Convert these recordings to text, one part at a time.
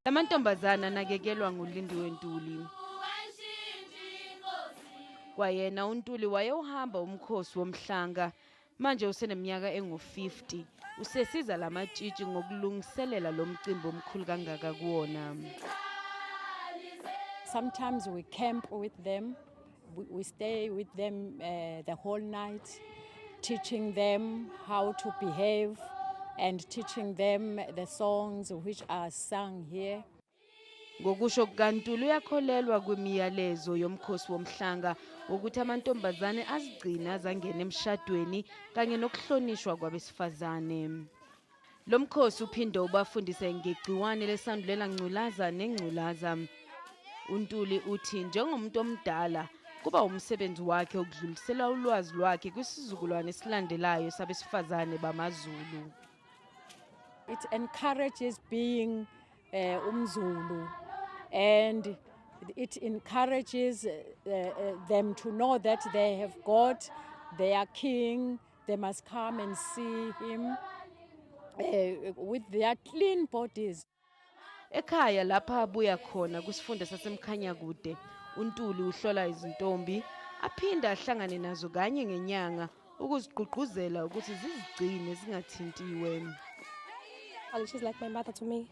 Lamantombazana anakekelwa nguLindiwe Ntuli. Kwayena uNtuli wayewuhamba umkhosi womhlanga Manje useneminyaka engu-50 usesiza la matshitshi ngokulungiselela lo mcimbi omkhulu kangaka kuwona. Sometimes we camp with them, we, we stay with them uh, the whole night, teaching them how to behave and teaching them the songs which are sung here. Ngokusho kukaNtuli uyakholelwa kwimiyalezo yomkhosi womhlanga wokuthi amantombazane azigcine azangena emshadweni kanye nokuhlonishwa kwabesifazane. Lo mkhosi uphinde ubafundise ngegciwane lesandulela ngculaza nengculaza. UNtuli uthi njengomuntu omdala kuba umsebenzi wakhe ukudlulisela ulwazi lwakhe kwisizukulwane esilandelayo sabesifazane bamaZulu. It encourages being eh umzulu and it encourages uh, uh, them to know that they have got their king they must come and see him uh, with their clean bodies ekhaya lapha abuya khona kusifunda sasemkhanya kude untuli uhlola izintombi aphinde ahlangane nazo kanye ngenyanga ukuzigqugquzela ukuthi zizigcine zingathintiwe She's like my mother to me.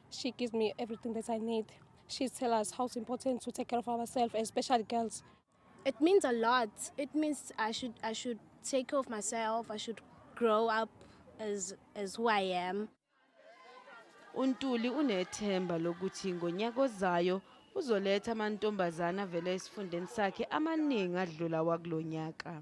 She gives me everything that I need. She tells us how it's important to take care of ourselves, especially girls. It means a lot. It means I should I should take care of myself. I should grow up as as who I am. uNtuli unethemba lokuthi ngonyaka ozayo uzoletha amantombazana avela esifundeni sakhe amaningi adlula wakulonyaka